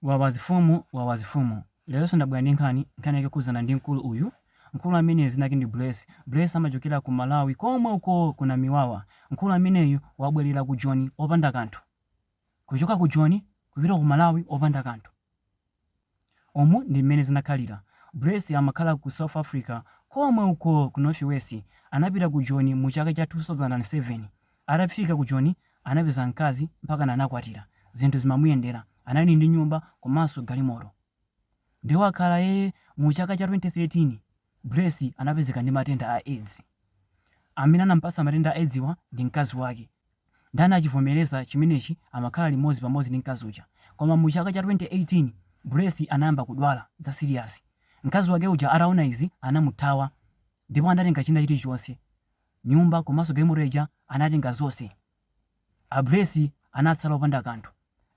Wawa zifumu, wawa zifumu. Leronso ndabwera ndi nkhani, nkhani yake yokhudzana ndi mkulu uyu. Mkulu ameneyu dzina lake ndi Bless. Bless amachokera ku Malawi komwe uko ku Namiwawa. Mkulu ameneyu wabwerera ku Joni opanda kanthu. Kuchoka ku Joni kupita ku Malawi opanda kanthu. Umu ndi mmene zinakhalira. Bless amakhala ku South Africa komwe uko ku North West. Anapita ku Joni mu chaka cha 2007. Atafika ku Joni anapeza mkazi mpakana anakwatira, zinthu zimamuyendera, anali ndi nyumba komanso galimoto. Nde wakhala ee mu chaka cha 2013 Bless anapezeka ndi matenda a aids. Amene anamupatsa matenda a aids wa ndi mkazi wake. Nde anachivomereza chimenechi amakhala limodzi pamodzi ndi mkazi uja. Koma mu chaka cha 2018 Bless anayamba kudwala za serious. Mkazi wake uja ataona izi anamuthawa ndipo anatenga china chilichonse. nyumba komanso galimoto ija anatenga zonse. A Bless anatsala opanda kanthu.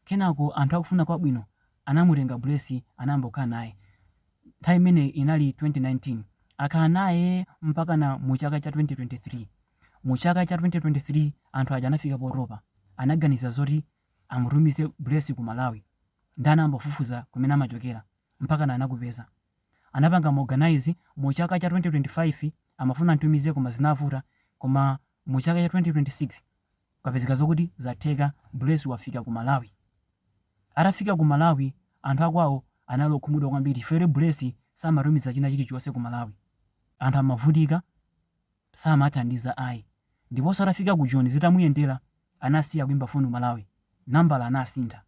Kenako anthu akufuna kwabwino anamutenga Bless anayamba kukhala naye. Nthawi imeneyi inali 2019. Akhala naye mpakana mu chaka cha 2023. Mu chaka cha 2023 anthu aja anafika potopa. Anaganiza zoti amutumize Bless ku Malawi. Ndiye anayamba kufufuza kumene amachokera. mpakana anakupeza. Anapanga ma organise mu chaka cha 2025 amafuna amtumize koma zinavuta koma mu chaka cha 2026 kwapezeka zokuti zatheka Bless wafika ku Malawi. Atafika ku Malawi anthu akwawo anali okhumudwa kwambiri chifukwa choti Bless samatumiza china chilichonse ku Malawi. Anthu amavutika samathandiza ayi. Ndiponso atafika ku Joni zitamuyendera anasiya kuimba foni ku Malawi, nambala anasintha.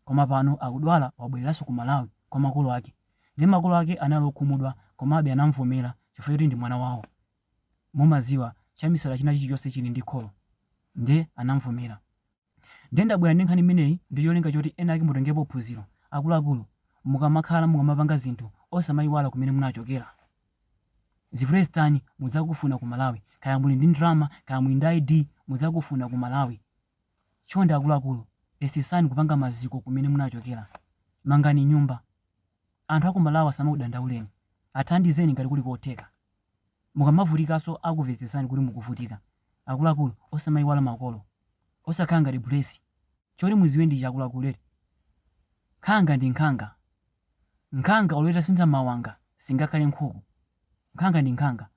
Koma pano akudwala wabwereranso ku Malawi kwa makolo ake nde makolo ake anali okhumudwa komabe anamuvomera chifukwa choti ndi mwana wawo mumaziwa chamisala china chilichonse chili ndi kholo nde anamuvomera nde ndabwera ndi nkhani imeneyi ndi cholinga choti ena ake mutengepo phunziro akuluakulu mukamakhala mukamapanga zinthu osamayiwala kumene munachokera zivute zitani mudzakufuna ku Malawi kaya muli ndi ndalama kaya muli ndi ID mudzakufuna ku Malawi Chonde akuluakulu yesesani kupanga maziko kumene munachokera. Mangani nyumba. Anthu aku Malawi asamakudandauleni. Athandizeni ngati kuli kotheka. Mukamavutikanso akumvetsetsani kuti mukuvutika. Akuluakulu osamaiwala makolo. Osakhala ngati Bless. Choti mudziwe ndi ichi akuluakulu eti. Nkhanga ndi nkhanga. Nkhanga olo itasintha mawanga singakhale nkhuku. Nkhanga ndi nkhanga.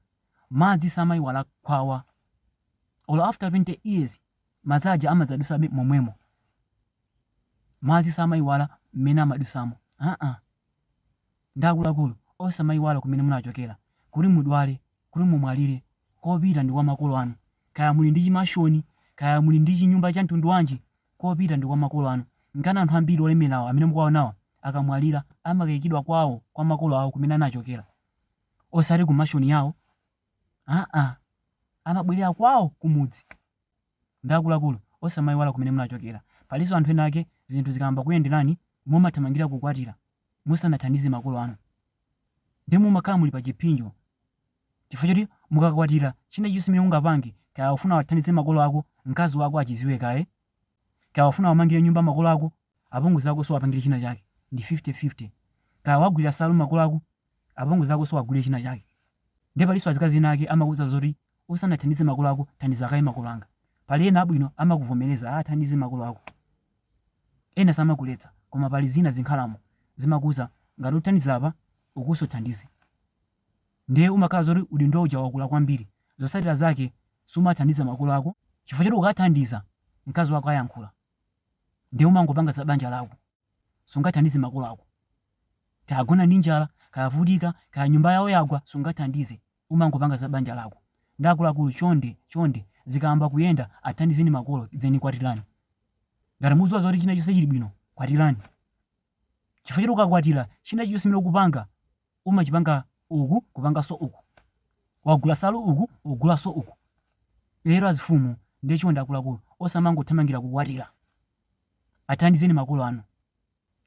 Madzi samaiwala khwawa. Olo after 20 years. Madzi aja amadzadutsabe momwemo. Madzi samaiwala mmene amadutsamo aa. Nde akuluakulu osamaiwala kumene munachokera kuti mudwale kuti mumwalire, kopita ndi kwa makolo anu kaya muli ndi chimashoni kaya muli ndi chinyumba cha mtundu wanji kopita ndi kwa makolo anu. Nkana anthu ambiri olemerawa amene mukuwaonawa akamwalira amakaikidwa kwawo kwa makolo awo kumene anachokera osati ku mashoni yawo. Aa, amabwerera kwawo kumudzi. Nde akuluakulu, osamayiwala kumene munachokera. Palinso anthu ena ake zinthu zikayamba kuyenderani mumathamangira kukwatira musanathandize makolo anu. Ndiye mumakhala muli pa chipsinjo chifukwa choti mukakwatira china chilichonse chimene ungapange, kaya ufuna uwathandize makolo ako, mkazi wako achidziwe kaye, kaya ufuna uwamangire nyumba makolo ako, apongozi akonso uwapangire china chake, ndi 50 50. Kaya uwagulira nsalu makolo ako, Apongozi akonso uwagulire china chake. Ndiye palinso azikazi ena ake amakuuza zoti usanathandize makolo ako thandiza kaye makolo anga. Pali ena abwino amakuvomereza athandize makolo ako. Ena samakuletsa koma pali zina zinkhalamo zimakuuza ngati uthandiza apa ukunso thandize. Ndiye umakhala zoti udindo uja wakula kwambiri. Zotsatira zake sumathandiza makolo ako chifukwa choti ukathandiza mkazi wako ayankhula. Ndiye umangopanga za banja lako. sungathandize makolo ako. Kaya agona ndi njala, kaya avutika, kaya nyumba yawo yagwa, sungathandize. Umangopanga za banja lako. Nde akuluakulu chonde, chonde, zikayamba kuyenda athandizeni makolo then kwatirani. Ngati mukudziwa zoti china chonse chili bwino, kwatirani. Chifukwa choti ukakwatira, china chilichonse chimene ukupanga, umachipanga uku, kupanganso uku. Wagula nsalu uku, ugulanso uku. Lero azifumu nde chonde akuluakulu osamangothamangira kukwatira. Athandizeni makolo anu.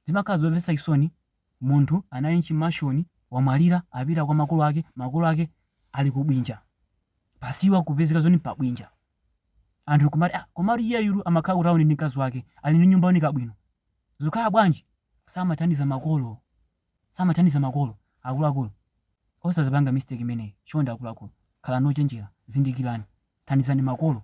Zimakhala zomvetsa chisoni munthu anali m'chimashoni wamwalira apita kwa makolo ake makolo ake ali ku bwinja pasiwa, kupezeka zoni pa bwinja anthu kumati ah komatu iyeyu amakhala ku town ndi mkazi wake ali ndi nyumba yooneka bwino zikukhala bwanji samathandiza makolo samathandiza makolo akuluakulu osazipanga mistake imeneyi chonde akuluakulu khalani ochenjera zindikirani thandizani makolo